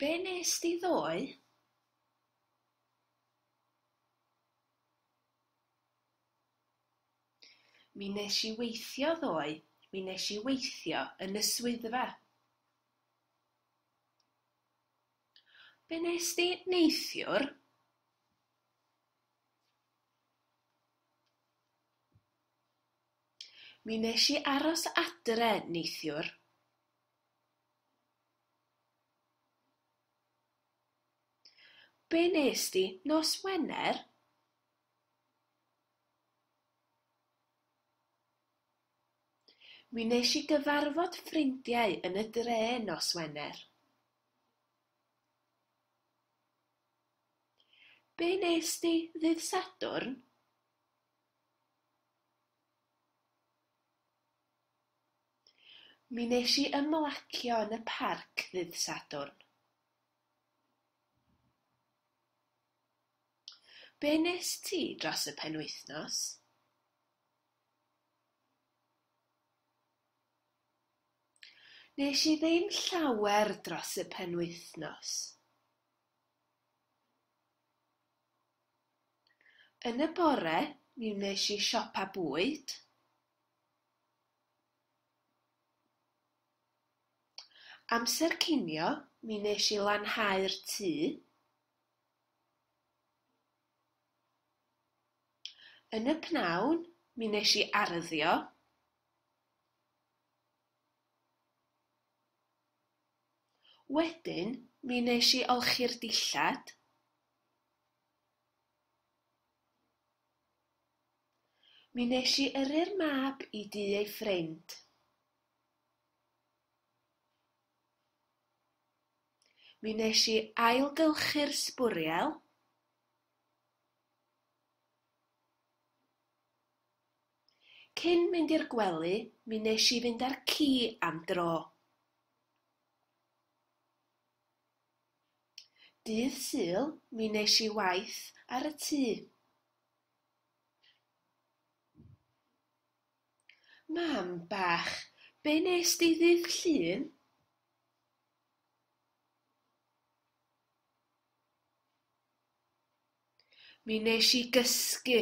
Be wnest ti ddoe? Mi nes i weithio ddoe. Mi nes i weithio yn y swyddfa. Be nes di neithiwr? Mi wnes i aros adre neithiwr. Be wnes di nos Wener? Mi wnes i gyfarfod ffrindiau yn y dre nos Wener. Be wnes di ddydd Sadwrn? Mi wnes i ymlacio yn y parc ddydd Sadwrn. Be wnest ti dros y penwythnos? Wnes i ddim llawer dros y penwythnos. Yn y bore, mi wnes i siopa bwyd. Amser cinio, mi wnes i lanhau'r tŷ. Yn y pnawn, mi wnes i arddio. Wedyn, mi wnes i olchi'r dillad. Mi wnes i yrru'r mab i dŷ ei ffrind. Mi wnes i ailgylchu'r sbwriel. Cyn mynd i'r gwely, mi wnes i fynd â'r ci am dro. Dydd Sul, mi wnes i waith ar y tŷ. Mam bach, be nes di ddydd Llun? Mi nes i gysgu.